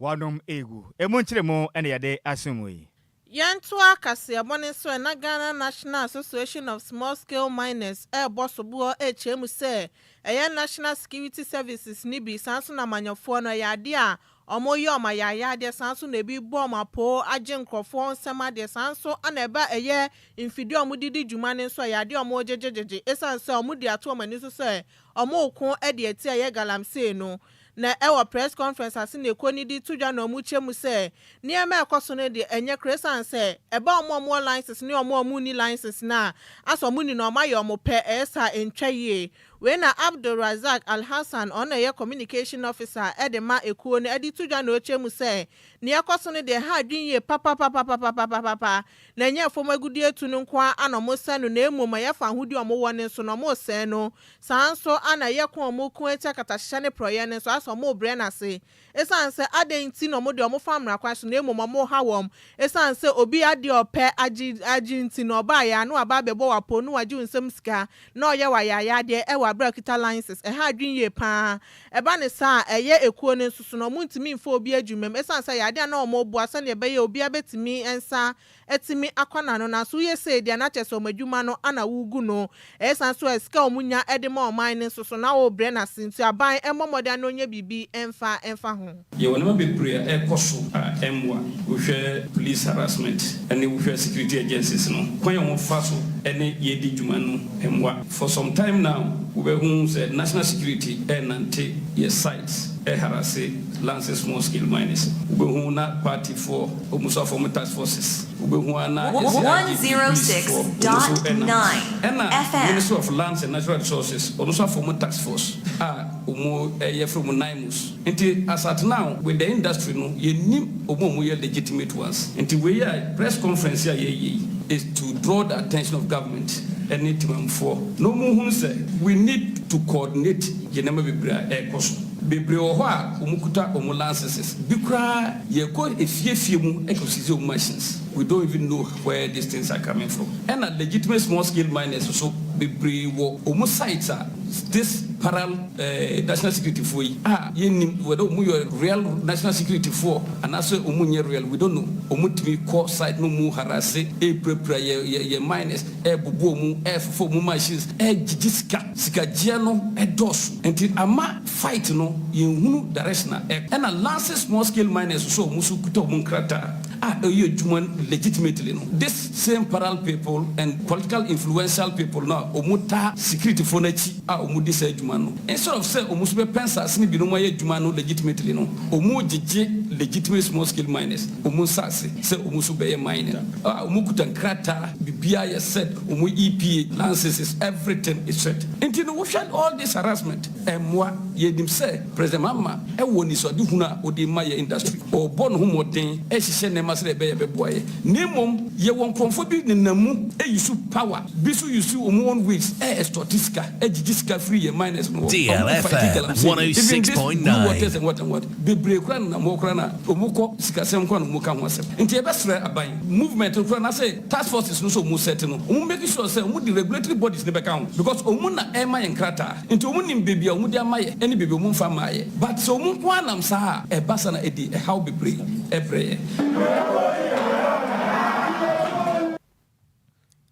Wɔanom agu. Emu nkyeremu na yɛde aso mu yi. Yɛntoa kaseɛbɔ no nso ɛ, na Ghana National Association of Small Scale Miners rebɔ soboɔ rekyerɛ mu sɛ ɛyɛ National Security Services no bi, saa ara nso na amanyɔfoɔ no, ɛyɛ adeɛ a wɔreyɛ wɔn ayaayadeɛ, saa ara nso na ɛbi rebɔ wɔn apoo agye nkurɔfoɔ wɔn nsam adeɛ, saa ara nso na ɛba ɛyɛ mfidie a wɔde di dwuma no nso, ɛyɛ adeɛ a wɔregyegyegyegye, ɛsiane sɛ wɔde ato wɔn ani so sɛ wɔreko de atia yɛ galamsey no, na ɛwɔ press conference ase na ɛkɔ nidi to dwa na wɔn kyɛ mu sɛ nneɛma a ɛkɔ so no deɛ ɛnyɛ koro ɛsane sɛ ɛba wɔn a wɔwɔ license ne wɔn a wɔn nni license no a asɛ wɔn nni no wɔn ayɛ wɔn pɛ ɛyɛ saa a ɛntwa yie. Wei na Abdul Razak Alhassan ɔno na ɛyɛ communication officer de ma ɛkuo no de to dwa na ɔkyɛ mu sɛ nea ɛkɔ so no deɛ ɛha adwene yie papapapapapapapa. na ɛnyɛ fam agudeɛtu no nko ara na wɔsɛe no na mmom ɛyɛ fawohodie a wɔwɔ no nso na wɔsɛe no, saa ara nso na ɛyɛ ko a wɔko atia akatahyehyɛ ne porɔeɛ no nso ayɛ sɛ wɔbrɛ no ase. Ɛsiane sɛ adɛn nti na wɔde wɔn fa mmara kwan so na mmom wɔha wɔn? Ɛsiane sɛ obi adeɛ a ɔpɛ agye agye nti na ɔbaeɛ a na waba abɛbɔ wo apoo na wagye wo nsam sika na ɔyɛ wo ayayaadeɛ wɔ aberɛ a ɔkita license. Ɛha adwene yie pa ara. Ɛba no saa a, ɛyɛ ekuo no nso so no, wɔntumi mfa obi adwuma mu ɛsiane sɛ ɛyɛ adeɛ a na wɔboa sɛdeɛ ɛbɛyɛ a obiara bɛtumi nsa atumi akɔ n'ano. Nanso woyɛ sei deɛ a, na kyerɛ sɛ wɔn adwuma no na woregu no. Ɛyɛ saa nso a, sika a wɔnya de ma ɔman no nso so, na worebrɛ no ase. Nso aban mmɔ mmɔden ara na wɔnyɛ biribi mfa mfa ho. Yɛwɔ nneɛma bebree a ɛrekɔ so a ɛmmoa. Wohwɛ police harassment ne wohwɛ security agencies no, kwan a wɔfa so ne yɛn di dwuma no mmoa. For some time now, wobɛhu sɛ national security renante yɛn sites reharasse Lance's small scale mines. Wobɛhu na partyfoɔ wɔn nso afɔm task forces. Wobɛhu ara na yɛn CID ne policefoɔ wɔn nso renante. Ɛna Ministry of Lands and Natural Resources wɔn nso afɔm task force a wɔyɛ frɛ wɔn NIMOs. Nti asatena with the industry no yɛnnim ɔmo a ɔmo yɛ legitimate ones nti wei a press conference yi a yɛyɛ yi is to draw the attention of government ɛne temanmufoɔ na ɔmo nhunu sɛ we need to coordinate yɛn nneɛma bebree a ɛrekɔ so bebree wɔ hɔ a ɔmo kuta ɔmo lanceses bi koraa yɛkɔ efie fie mu ɛkɔ sisi ɔmo machines we don't even know where these things are coming from ɛna legitimate small scale miners nso bebree wɔ ɔmo sites a this paral. eh, national security foɔ yi, ah, yɛnnim whether wɔn yɛ real national security foɔ anaasɛ wɔn nyɛ real, we don't know, wɔn tumi kɔ site no mu harasse, ɛrepirapira yɛ, yɛ, yɛn miners, ɛrebubu wɔn, ɛrefofa wɔn machines, ɛregyegye sika, sikagyea no ɛdɔɔso, nti ama fight no yɛnhunu direction a ɛrekɔ, ɛna Lanse small scale miners nso a wɔn nso kuta wɔn nkrataa a ɛreyɛ adwuma legitimately no, this same parallel people and political influential people no a wɔtaa security foɔ no akyi, a wɔdi saa dwuma no, instead of sɛ wɔn nso bɛpɛ nsase no bi na wɔayɛ adwuma no legitimately no, wɔgyegye legitimate small scale miners wɔn nsase sɛ wɔn nso bɛyɛ mining a wɔkuta nkrataa biribiara yɛ set, wɔn EPA lanceses everything is set. Nti no wohwɛ all this harassment ɛmmoa, yɛnim sɛ. President Mahama wɔ anisoadehunu a ɔde rema yɛn industry. Ɔrebɔ ne ho mmɔden rehyehyɛ nneɛma sɛdeɛ ɛbɛyɛ a ɛbɛboa yɛn. Na mmom, yɛwɔ nkorɔfoɔ bi nenam mu use power, bi nso use wɔn own ways re extorte sika, gyegye sika firi yɛn miners no hɔ. Wɔn fight galamsey no, even this Blue Waters and what and what, bebree koraa nenam hɔ koraa no a, wɔkɔ sikasɛm nko ara na wɔka ho asɛm. Nti yɛbɛsrɛ aban, movement no koraa no ase, task forces no sɛ ɔmo sɛte no ɔmo make sure sɛ ɔmo de regulatory bodies no bɛka ho because ɔmo na ɛɛma yɛ nkrataa nti ɔmo nim beebi a ɔmo de ama yɛ ɛne beebi a ɔmo nfa mmaa yɛ but sɛ ɔmo nko ara nam saa a ɛba saa na ɛde ɛhaw bebree ɛbrɛ yɛn.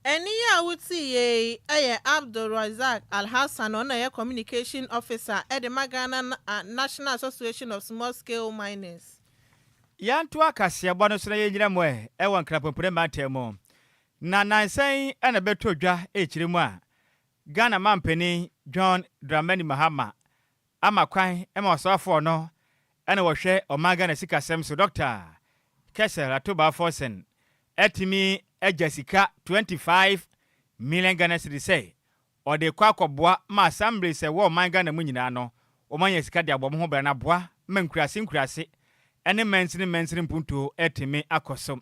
Ɛnne yi a wotiiɛ yi yɛ Abdulrasaq Alhassan, ɔno na ɔyɛ Communication Officer de ma Ghana National Association of Small Scale Miners. Yɛntoa kaseɛbɔ no so na yɛnnyina mu ɛ wɔ Nkrapompire mantam mu. Na nansa yi na bɛtoo dwa ɛkyire mu a Ghana Mampanin John Dramani Mahama ama kwan ma ɔsoafoɔ no na wɔhwɛ ɔman Ghana sikasɛm so Dɔkta Kessel Atuba Forson atumi agya sika 25 million Ghana cedis sɛ Ɔde kɔ akɔboa ma saa mbre sɛ wɔ ɔman Ghana mu nyinaa no wɔma nya sika de abɔ ɔmo ho bra na boa ma nkuraase nkuraase ɛne mansini mansini mpuntuo ɛtumi akɔ so.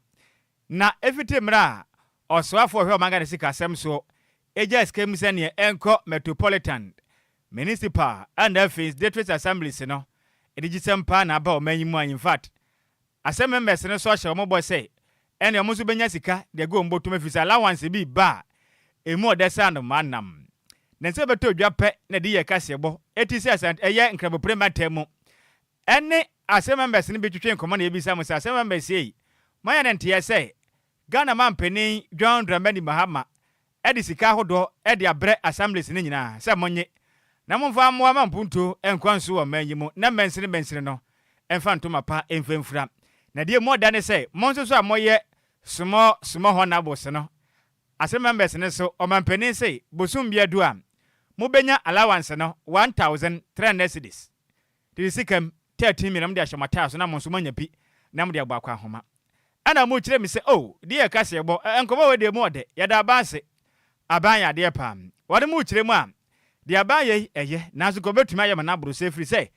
Na ɛfiti mmrɛ a ɔsoafoɔ ɔhwɛ ɔman Ghana sika asɛm soɔ ɛgyaa sika mu sɛneɛ ɛnkɔ Metropolitan Municipal and afei Sdtricts Assemblies no ɛnigyesɛm paa na aba ɔman yi mu a infact Asɛm members no so ahyɛ wɔn bɔ sɛ ɛne wɔn nso bɛnya sika de agu wɔn bɔtom ɛfiri sɛ allowance bi reba a ɛmu ɔdɛ saa nnomaa nam ne nsa bɛtɔ odwa pɛ na ɛde yɛ kaseɛbɔ ɛti sɛ Asante ɛyɛ Nkrabopre mantam mu ɛne Asɛm members no bi twetwee nkɔmmɔ na yɛbisa mo sɛ Asɛm members yei moanya ne nteɛ sɛ Ghana Mampanin John Dramani Mahama de sika ahodoɔ de abrɛ Assemblies no nyinaa sɛ monnye na momfa mmoa ma mpuntuo nkɔ nso wɔ ɔman yi mu na mansini mansini no mfa ntoma pa mfa mfira. Na deɛ emu ɔda ne sɛ mo nso so a moyɛ small small honourables no ase members no nso ɔmampanin se bosom bi adu a mobɛnya allowance no one thousand three hundred cedis Dede sikam thirteen mmiɛna mode ahyɛ mo ataae so na mo nso moanya bi na mode abɔ akɔ ahoma. Ɛna mokyerɛ me sɛ oh, deɛ yɛ kaseɛbɔ, nkɔmmɔ wei deɛ mu ɔdɛ, yɛda aban ase. Aban yɛ adeɛ paa. Wɔde mo rekyerɛ mu a, deɛ aban yɛ yi, ɛyɛ, nanso nka wɔbɛtumi ayɛ mo no aboro saa ɛfiri sɛ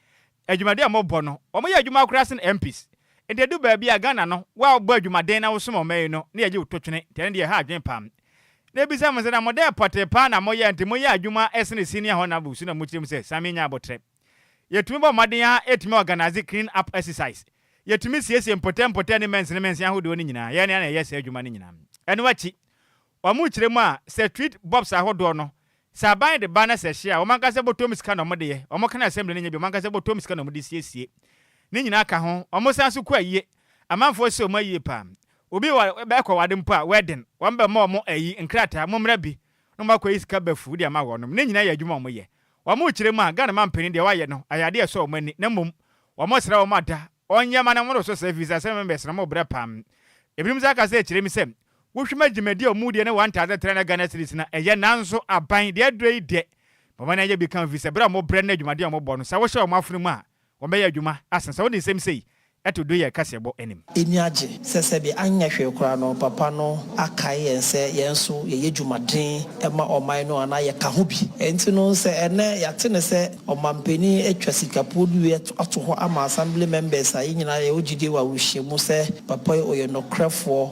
adwumadi a mobɔ no, wɔyɛ adwuma koraa sen MPs. Nti ɛdu baabi a, Ghana no, wo a wobɔ adwumaden na wosom ɔman yi no, na yɛgye wo to twene, nti ɛno deɛ ɛha adwene paa. Na ɛbisa mo sɛ, na mo dɛn pɔtee paa na moyɛ a nti moyɛ adwuma sene senior honourable so na mokyerɛ mu sɛ, Sammy nyɛ aboterɛ. Yɛtumi bɔ mmɔden ara ɛtumi organise clean up exercise. Yɛtumi siesie mpɔtam mpɔtam ne mɛnsene mɛnsene ahodoɔ no nyinaa, yɛn ara na yɛyɛ saa adwuma no nyinaa. Ɛno akyi, wɔn kyerɛ mu a, sɛ treat bops ahodoɔ no, sɛ aban de ba na sɛ ɛhye a, wɔn ankasa bɔtɔm sika na wɔn de yɛ, wɔn ka no assembly no nyɛ bi, wɔn ankasa bɔtɔm sika na wɔn de siesie. Ne nyinaa ka ho, wɔn san so kɔ ayie, amanfoɔ sɛ wɔn ayie paa. Obi wɔ ɛkɔ ware mpo a, wedding, wɔn bɛ ma wɔn ayi, nkrataa, mommra bi, na wɔn akɔyi sika ba fuu de ama wɔnom, ne nyinaa yɛ adwuma a wɔn yɛ. Wɔn rekyerɛ mu a, Ghana man panin deɛ wɔayɛ no, ɛyɛ adeɛ a ɛsɔ wɔn ani, na mmom, wɔn srɛ wɔn ada, wɔn nyɛ ma na wɔn resɔ saa ɛfirisɛ asɛm mmɛbɛ sene wɔn brɛ paa. Ebinom san ka sɛ ɛkyerɛ mu sɛ, wo hwɛ ma dwumadie a wɔn die ne wɔn ntaadeɛ tra na Ghana cedis na ɛyɛ, nanso aban deɛ ɛdrɛ yi deɛ, ma wɔn ani nyɛ bi ka ho ɛfirisɛ brɛ a wɔn brɛ ne dwumadie a wɔn bɔ no, sɛ wo hyɛ wɔn afunu mu a, Wɔbɛyɛ adwuma asen sɛ wode nsɛm sei to do yɛ kaseɛbɔ anim. Ani agye sɛ sɛdeɛ anyɛ hwee koraa no Papa no akae yɛn sɛ yɛn nso yɛyɛ dwumaden ma ɔman no anaa yɛka ho bi. Ɛnti no sɛ ɛnnɛ yɛate no sɛ Ɔmampanin atwa sikapuo no wie ato hɔ ama Assembly members a, yɛn nyinaa yɛwɔ gyidie wɔ awerɛhyɛ mu sɛ Papa yi ɔyɛ nokorɛfoɔ.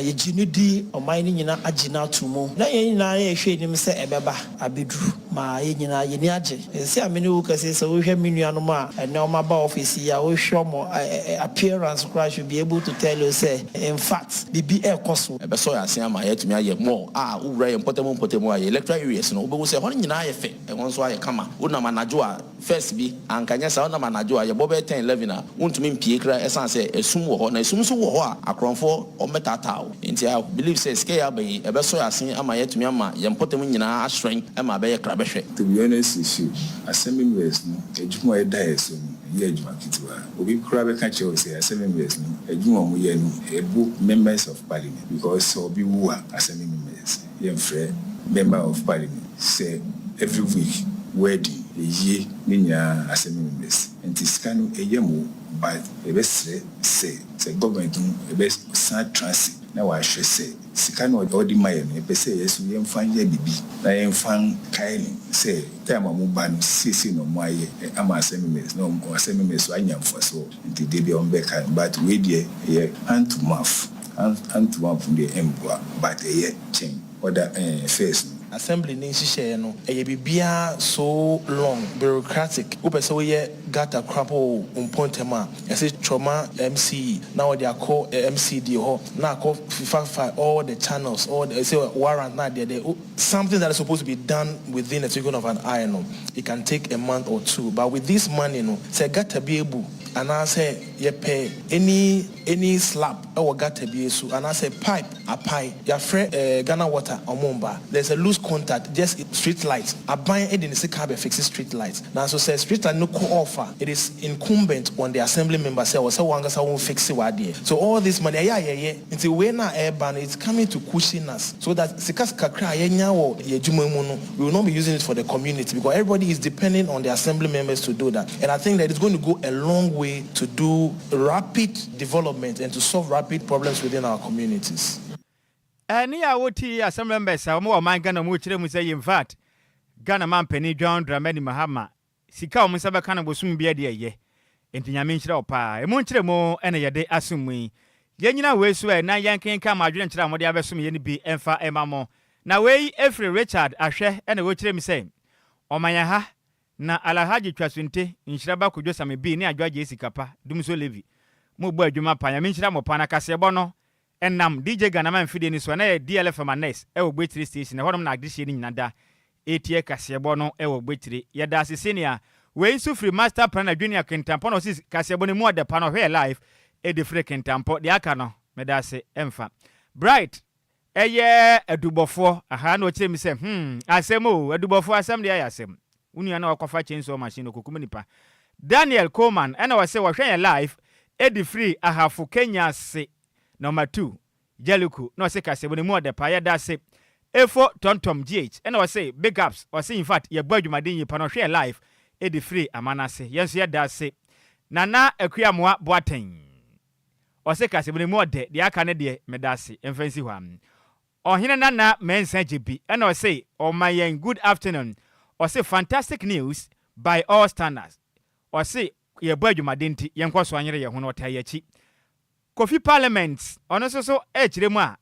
Yɛgye no di, ɔman no nyinaa agye no ato mu na yɛn nyinaa yɛrehwɛ anim sɛ ɛbɛba. abedu ma yɛn nyinaa yɛn ani agye. Seesei a me ne wo rekasa yi, sɛ wohwɛ me nuanom a ɛnnɛ wɔaba ɔfese yi a, wohwɛ wɔn appearance koraa a, should be able to tell you sɛ in fact biribi rekɔ so. Ɛbɛsɔ yɛn ase ama yɛatumi ayɛ more a. Wowura yɛn mpɔtam mpɔtam a, yɛn electoral areas no, wobɛhu sɛ ɛhɔ nyinaa ayɛ fɛ, ɛhɔ nso ayɛ kama. Wonam anadwo a. First bi, anka nyɛ saa, wonam anadwo a, yɛbɔ bɛyɛ ten, eleven a, wontumi mpie koraa ɛsan sɛ ɛsum wɔ hɔ, na ɛsum nso wɔ hɔ a, akorɔnfoɔ wɔn bɛtaataa wo. Nti I believe sɛ sika yi aba yi, ɛbɛsɔ yɛn asen ama yɛatumi ama yɛn mpɔtam nyinaa ahyerɛn ɛma abɛyɛ krabɛhwɛ. To be honest with you, Asɛm Invest no adwuma a yɛda yɛn so no, ɛnyɛ adwuma ketewa. Obi koraa bɛka kyerɛ wo sɛ Asɛm Invest no adwuma a wɔyɛ no ɛbo members of parliament because sɛ obi wu a, Asɛm Invest. Yɛnfrɛ Member of Parliament sɛ every week wedding yɛyie ne nyinaa asɛm no mess nti sika no ɛyam o but yɛbɛsrɛ sɛ sɛ government no ɛbɛ san trase na w'ahwɛ sɛ sika no a ɔde ma yɛ no yɛpɛ sɛ yɛso yɛnfa nyɛ biribi na yɛnfa nkae no sɛ time a ɔmo ba no seisei na ɔmo ayɛ ama asɛm no mess na ɔmo asɛm no mess so anya mfasoɔ. Nti da bi ɔmo bɛka no but wei deɛ ɛyɛ hand to mouth hand hand to mouth no deɛ ɛmboa but ɛyɛ kyɛn other ɛɛ affairs no. Assembly ne nhyehyɛeɛ no ɛyɛ biribiara so long, bureaucratic, wopɛ sɛ woyɛ gutter kora mpo wɔ wo mpɔtam a ɛse twɔma MC na wɔde akɔ MC deɛ hɔ na akɔ fifa fifa all the channels all the ɛse warrant na adeɛdeɛ wo Something that is supposed to be done within a twinkle of an eye no, it can take a month or two but with this money no, sɛ gutter bi abu anaasɛ yɛpɛ any any slap wɔ gutter bi so anaasɛ pipe apae, yɛafrɛ eh Ghana water wɔn mba, there is a loose contact just street light, aban de ne sika abɛ fixe street light nanso sɛ street light no kɔ off a, it is incumbent on the assembly member sɛ ɛwɔ sɛ wɔn ankasa wɔn fixe w'adeɛ so all this money ɛyɛ a yɛyɛ. Nti wei no a ɛreba no it's coming to cushion us so that sika kakra a yɛnya wɔ yɛn adwuma mu no we will not be using it for the community because everybody is depending on the assembly members to do that and I think that it's going to go a long way to do rapid development and to solve rapid problems within our communities. Ɛne a ɔti assembly members a wɔn wɔ ɔman Ghana mu kyerɛ mu sɛ Yemfat Ghana manpanin John Dramani Mahama Sika a wɔn nsa bɛka no bosome biara deɛ ɛyɛ, enti Nyame nhyira wo paa. Ɛmu nkyerɛmu na yɛde asom mu yi. Yɛnnyina wei so ɛ, na yɛnkenkan mo adwene nkyerɛ a mode abɛsom yɛn no bi mfa mma mo. Na wei firi Richard Ahwɛ na ɔkyerɛ mu sɛ, Ɔma yɛn ha, na Alahadji Twasunte, Nhyiraba Kojo Same Bee ne Adwoa Gyei Sikapa, Dumsor Levy, mo bɔ adwuma paa. Nyame nhyira mo paa, na kaseɛbɔ no Ɛnam DJ Ghana man fidie no so a na ɛyɛ DLFM Annex wɔ Gbekyire Station, ɛhɔnom na adehyeɛ no nyina da retie kaseɛbɔ no wɔ Gbekyire. Yɛda ase sɛnea wei nso firi Master Plan adwini a Kintampo na ɔsi kaseɛbɔ no mu ɔda pa na ɔhwɛ yɛ live de frɛ Kintampo. Deɛ aka no meda ase mfa. Bright ɛyɛ adubɔfoɔ, ahaa na ɔkyerɛ me sɛ hmm asɛm oo, adubɔfoɔ asɛm deɛ ayɛ asɛm. Wo nua na ɔkɔfa chainsaw machine ɔkɔkum nipa. Daniel Coleman ɛna ɔse wɔhwɛ yɛn live ɛdi firi Ahafo Kenya se Number two Jellico na ɔse kasɛmu no mu ɔdɛ paa yɛdase Efo Tontom GH ɛna ɔse big ups ɔse infact yɛbɔ adwumaden yie pa na ɔhwɛ yɛn live ɛdi firi Amanase yɛn nso yɛdase Nana Akua Amoah Boateng ɔse kasɛmu no mu ɔdɛ deɛ aka no deɛ medase ɛmfa nsi hɔ a Ɔhene Nana Mensah gye bi na ɔse ɔma yɛn good afternoon ɔse fantastic news by all standards ɔse yɛ bɔ adwumaden nti yɛn kɔ so anyere yɛn ho na ɔtaa yɛn akyi Kofi Parliament ɔno nso so ɛkyerɛ mu a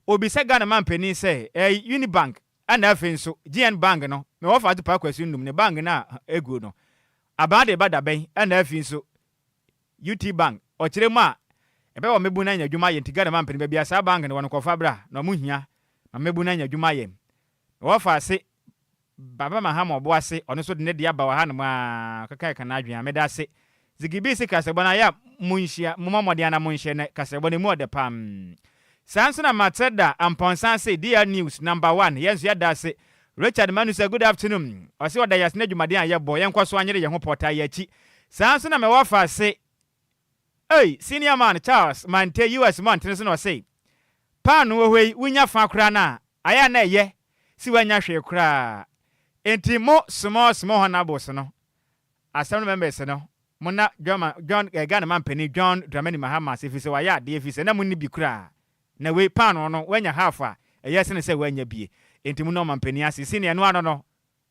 ɔbisa Ghana man panin sɛ ɛɛ Unibank ɛna afei nso GN bank no me wɔfa ato paa Kwasi Num ne bank no a ɛguo no abaa de ba dabɛn ɛna afei nso UT bank ɔkyerɛ mu a ɛbɛ wɔ mɛbu na nya dwuma yɛ nti Ghana ma mpene bɛbia saa bank no wɔ no kɔ fa bra na ɔmo hia ma mɛbu na nya dwuma yɛ na wɔ fa ase Baba Mahama ɔbo ase ɔno nso de ne deɛ aba wɔ ha nom a ɔkeka ɛka na adwen a mɛda ase Ziggy Bees kasɛbɔ no ayɛ a mo nhyia mo mɔ mɔden a na mo nhyɛ nɛ kasɛbɔ no ɛmu ɔdɛ paa mm Saa nso na Matsɛ da Ampɔnsa ase DR news number one yɛn nso yɛda ase Richard Manu sɛ good afternoon ɔse ɔda yɛase n'adwumaden a yɛbɔ yɛnkɔ so anyere yɛn ho pɔtaa yɛ akyi saa nso na mɛwɔ afa ase ei senior man Charles Mante US mmɔntene so na ɔse paano wɔ hɔ yi wonya fã koraa no a ayɛ a na ɛyɛ se woannya hwee koraa enti mo small small honourables no Asɛm no members no mona John John eh, Ghana man panin John Dramani Mahama ase efisɛ wayɛ adeɛ efisɛ na monni bi koraa na wei paanoo no wanya half a ɛyɛ sene sɛ wannya bie enti mona ɔman panin ase senior ɛno ano no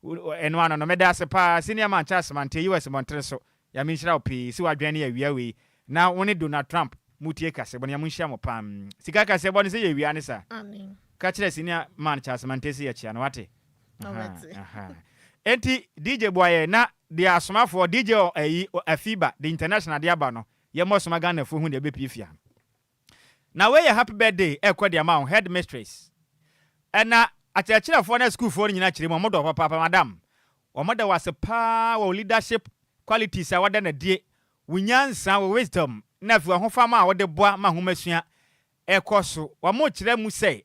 ɛno ano no meda ase paa senior man Charles Mantee US mmɔntene so Nyame nhyira wo pii se wadwɛn ne awia wei Na wo ne Donald Trump mo tie kasɛ bɔ no ya mo nhyia mo paa mm sika kasɛ bɔ no sɛ yɛ wia ne sa ka kyerɛ senior man Charles Mantey se yɛ kyea no wate ahaa ahaa enti DJ Boayɛ na deɛ asomafoɔ DJ ɔ ayi ɔ afiba de international de aba no yɛ mɔ soma Ghana foɔ hu deɛ ɛbɛ pie fia no na wei yɛ happy birthday ɛkɔ de ama wo headmistress ɛna akyerɛkyerɛfoɔ na school foɔ no nyina kyerɛ mu ɔmo dɔ wo papaapa madam ɔmo da wo ase paa wɔ wo leadership qualities a wada no adie Wo nyansa, wo wisdom, na afei w'ahofama a wode boa ma nhomasua kɔ so. Wɔkyerɛ mu sɛ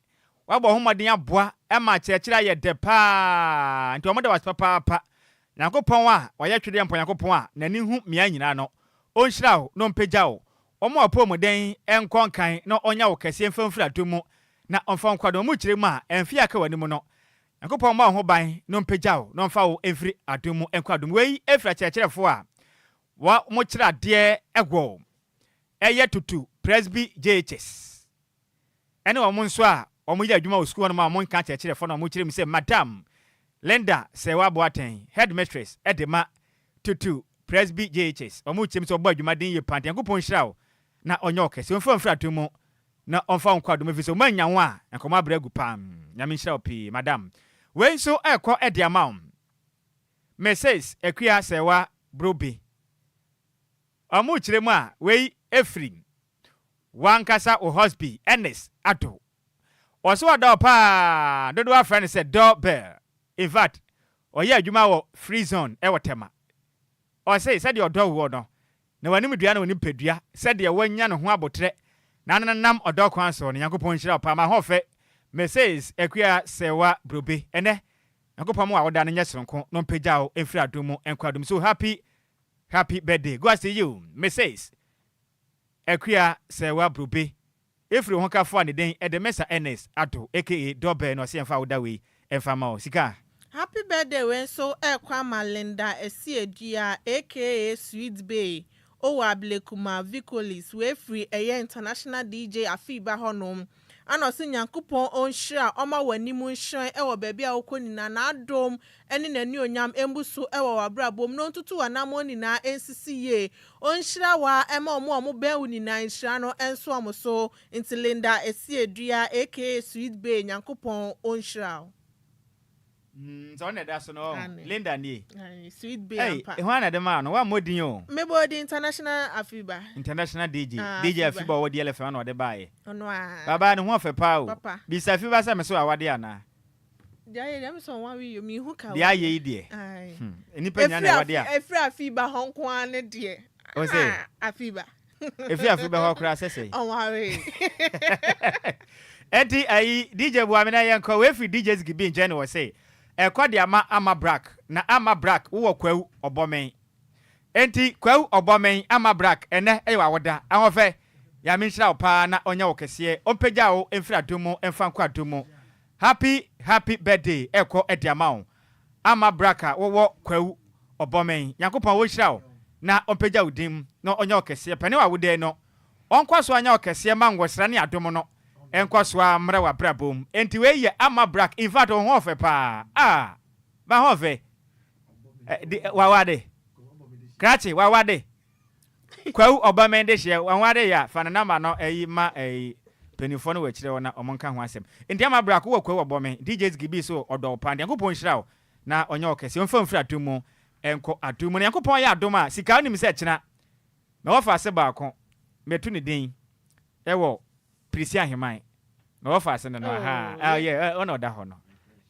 woabɔ ho mmɔden aboa ma akyerɛkyerɛ ayɛ dɛ paa, enti wɔda wo ase papaapa. Nyankopɔn a wayɛ twedeɛ mpo Nyankopɔn a n'ani hu mmeae nyinaa no, ɔnhyira wo na ɔmpagya wo. Ɔmma w'apɔwmuden nkɔ nkan na ɔnya wo kɛseɛ mfa mfiri adom mu na ɔmfa wo nkɔ adom mu. Wɔkyerɛ mu a, mfe a aka w'anim no, Nyankopɔn mma wo ho ban na ɔmpagya wo na ɔmfa wo mfiri adom mu nkɔ adom mu. Wei firi akyerɛkyerɛfoɔ a wɔn kyerɛ adeɛ ɛwɔ ɛyɛ Tutu Presby JHS ɛne wɔn nso a wɔn yɛ adwuma wɔ sukuu hɔnom a wɔn nka akyerɛkyerɛfoɔ na wɔn kyerɛ mu sɛ Madam Linda Serwaa Boateng Headmistress ɛde ma Tutu Presby JHS wɔn kyerɛ mu sɛ ɔbɔ adwumaden yie paa nti Nyankopɔn nhyira wo na ɔnyɛ wo kɛse ɔmfa wo mfiri adom mu na ɔmfa wo nkɔ adom efisɛ wɔn annya wo a nkɔmɔ abrɛ agu paa Nyame nhyira wo pii madam Wei nso ɛkɔ de ama wo Mrs Akua Sɛɛwa Brobe Ɔmo kyerɛ mu a wei ɛfiri wankasa wo husby Ernest Addo Ɔse ɔdɔ wo paa dodoɔ afrɛ no sɛ Door Bell In fact ɔyɛ adwuma wɔ Free Zone ɛwɔ Tema Ɔse sɛdeɛ ɔdɔ woɔ no Na w'animdua ne wo nipadua, sɛdeɛ woanya ne ho aboterɛ, na nenam ɔdɔ kwan soɔ no, Nyankopɔn nhyira wo paa. M'ahoɔfɛ, Mrs. Akua Serwa Brobe, ɛnnɛ, Nyankopɔn mma w'awoda no nyɛ sononko, na ɔmpagya wo mfiri adom mu nkɔ adom mu. So happy, happy birthday goes to you, Mrs. Akua Serwa Brobe, Efiri ho ka foa ne den ɛdɛ Mɛsa Ernest Addo aka Dɔ Bɛɛ na ɔse yɛnfa awoda wei ɛnfa mma wo sika. Happy birthday wei nso ɛrekɔ ama Linda Asiadua aka Sweet Bee owo Ablekuma Vicolis wei firi ɛyɛ International DJ Afiba hɔ nom ɛna ɔse Nyankopɔn ɔnhyira ɔma w'anim nhyerɛn ɛwɔ baabi a wokɔ nyinaa n'adom ne n'anuonyam mbu so wɔ w'abrabɔ mu na ɔntutu w'anammɔn nyinaa nsisi yie. Ɔnhyira wo ara ma wɔn a wɔbɛn wo nyinaa nhyira no nso wɔn so. Nti Linda Asiedua aka Sweet Bee Nyankopɔn ɔnhyira wo. Hmm sɛ wo na ɛda so no ɔɔ Aane. Linda nie. Aane Sweet Bee Ei ampa. hwan na de maa no? Woammɔ din o. Me bɔɔ din International Afiba. International DJ. Ah DJ Afiba. Afiba a ɔwɔ DLFM no na ɔde baeɛ. Ɔno ara. Abaa no ho ɔfɛ paa o. Papa. Bisa Afiba sɛ me so awadeɛ anaa? Deɛ ayɛ deɛ mesɛ ɔware yio menhu ka Deɛ ayɛ yi deɛ hmm nipa nyina na ɛwɔ deɛ a. Efiri afi ba hɔ nko ara ne deɛ. Ɔn sɛ. Ah afi ba. Efiri afi ba hɔ koraa sɛ sɛ. Ɔware. Ɛnti ayi DJ bua me na yɛn kɔ wei firi DJ Ziggy B nkyɛn na ɔse ɛkɔ de ama Ama Brack na Ama Brack wowɔ Kwawu Ɔbɔmɛn ɛnti Kwawu Ɔbɔmɛn Ama Brack ɛnɛ ɛyɛ w'awoda Ahoɔfɛ Nyame nhyira wo paa na ɔnyɛ wo kɛseɛ ɔmpagya wo mfiri adum mu mfa nkɔ adum mu Happy happy birthday ɛkɔ de ama wo Ama brak a wowɔ Kwawu Ɔbɔmɛn Nyankopɔn ɔnhyira wo na ɔmpagya wo din mu na ɔnyɛ ɔkɛseɛ pɛne w'awodaɛ no ɔnkɔ so anyɛ ɔkɛseɛ ma nwɔsra ne adom no nkɔ so ara mmra w'abrabɔ mu enti wei yɛ Ama brak infact wo ho ɔfɛ paa ah bɛ ho ɔfɛ eh de wawade krakye wawade. Kwawu ɔba mɛn dehyeɛ wahu ade yɛ a fa ne number no ɛyi ma ɛyi mpanyinfoɔ no wɔ akyire hɔ na ɔmo nka ho asɛm nti ama bra ko wɔ kwawu ɔbɔ mɛn DJ zgi bii so ɔdɔ wo paa nyankopɔn nhyira wo na ɔnyɛ wo kɛseɛ ɔmfa wo mfiri atom mu nkɔ atom mu na nyankopɔn yɛ adom a sika wonim sɛ kyena mɛwɔ faase baako mɛtu ne din ɛwɔ Perisia Ahemman. Na wɔfaa ase no no, ahaa, ah, ɔyɛ, eh, ɔna ɔda hɔ no.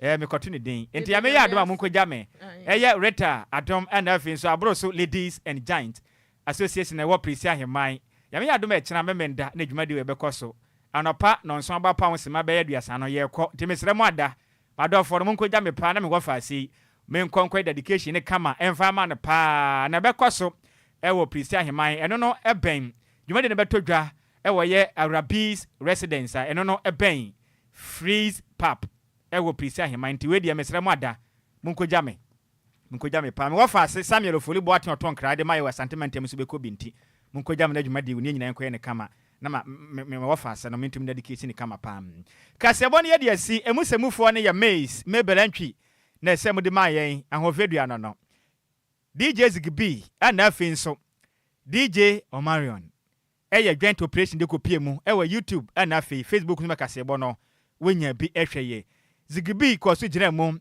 Eh, mekɔto ne din. Enti Nyame yɛ adom a monkɔgya me. Ɛyɛ Rita adom ɛna afei nso aboro so Ladies and Geints Association a ɛwɔ Perisia Ahemman. Nyame yɛ adom a ɛkyena Memenda na dwumadi wɔ yi bɛkɔ so. Anɔpa nɔnson aba pa ho simma bɛyɛ aduasa no, yɛrekɔ. Nti mesrɛ mo ada, m'adɔfoɔ no, monkɔgya me paa na me wɔfa ase yi, menkɔ nkɔyɛ dedication no kama ɛmfa mma no paa. Na ɛbɛkɔ so ɛwɔ Perisia Ahemman. Ɛno no ɛbɛn. Dwumadi no bɛtɔ dwa. Wɔyɛ Arabi's residence a ɛno no bɛn Fries Pub wɔ Prissy Aheman nti wei deɛ mesrɛ mo ada monkɔgya me monkɔgya me paa me wɔfaase Samuel Ofori Boateng ɔtɔ nkra de ma yɛ wɔ Asante mantam nso bɛkɔ bi nti monkɔgya me na dwumadie wɔ nie nyinaa nkɔyɛ no kama na ma me me wɔfaase no mentumi nadikesi no kama paa kaseɛbɔ no yɛde asi ɛmu sɛmufoɔ no yɛ Miss Mabel Antwi na ɛsɛ mode ma yɛn Ahoɔfɛdua no no DJ Ziggy B ɛna afei nso DJ Omarion Ɛyɛ joint operation de kɔpie mu wɔ YouTube ɛna afei Facebook nso ma kaseɛbɔ no wonya bi hwɛ yɛ. Zigbee kɔɔ so gyinaa mu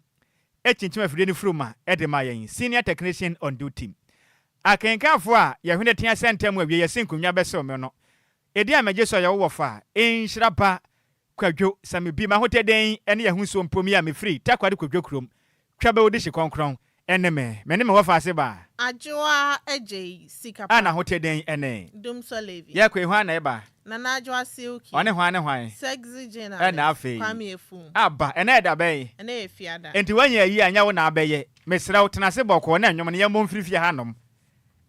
kyinkyim afidie no furuma de maa yɛn, Senior Technician on Duty. Akenkanfoɔ a yɛhwene tea sɛ ntɛm awie yɛse nkonnwa bɛsew me no, edin a megye so a yɛwɔ wɔfa, nhyira pa, Kwadwo, sɛ me bi, m'ahotɛ dɛn ne yɛho suo mpo, me a mefiri Takoradi kɔdwo kurom, twa bɛwo de hye kɔnkrɔn, ɛne me, me ne me wɔfaase baa. Adwoa Agyei Sikapa. A n'ahotɛ dɛn ne. Dumsor Levi. Yɛkɔ yi, hwan na ɛba? Nana Adwoa Silky. Ɔne hwan ne hwan? Sexy Gin Alice. Ɛna afei. Kwame Afum. Aba, ɛnɛ yɛ da bɛn? Ɛnɛ yɛ Fiada. Enti woanya ayie a, ɛnyɛ wo na abɛyɛ. Mesrɛ wo, tena ase bɔkɔɔ na nnwom no yɛmmɔ mfiri fie ha nnom.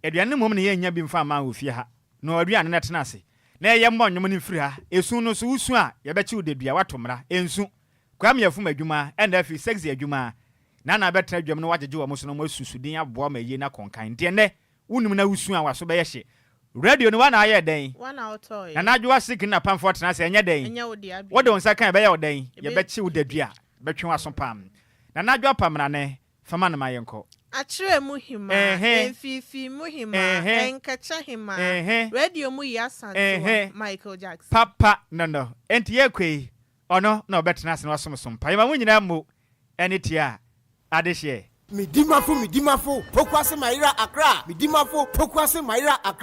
Aduane no mmom na yɛnnya bi mfa mma wɔ fie ha. Noa aduane na tena ase. Na ɛyɛ mmɔ nnwom no mfiri ha. Esu no nso, wusu a, yɛbɛkye wo dadua, woato mmara. Ensu. Kwame afum adwuma, ɛnna afei Sexy adwuma. Nana abɛtena dwam na wɔagyegye wɔn so na wɔasu su din aboa wɔn ayie no akonkan. Enti ɛnnɛ, wunnim na wusu a, w'aso bɛyɛ hye. Radio no, woa na ayɛ dɛn? Nana Adwoa Sik ne n'apamfoɔ tena ase, ɛnyɛ dɛn? Wode wo nsa ka a, ɛbɛyɛ wo dɛn? Yɛbɛkye wo dadua, bɛtwe w'aso pam. Nana Adwoa Pamnane, Fa ma no ma yɛnkɔ. Akyerɛ mu hemaa, mfeefee mu hemaa, nkɛkyɛ hemaa, radio mu yea santewa, Michael Jackson. Papa no no, enti yɛkɔ yi, ɔno na ɔbɛtena ase na wasom so mpa. Yɛma mo nyinaa mmo ɛne tia adehyeɛ. Medimafo Medimafo Pokuase Mayera Accra Medimafo Pokuase Mayera Accra.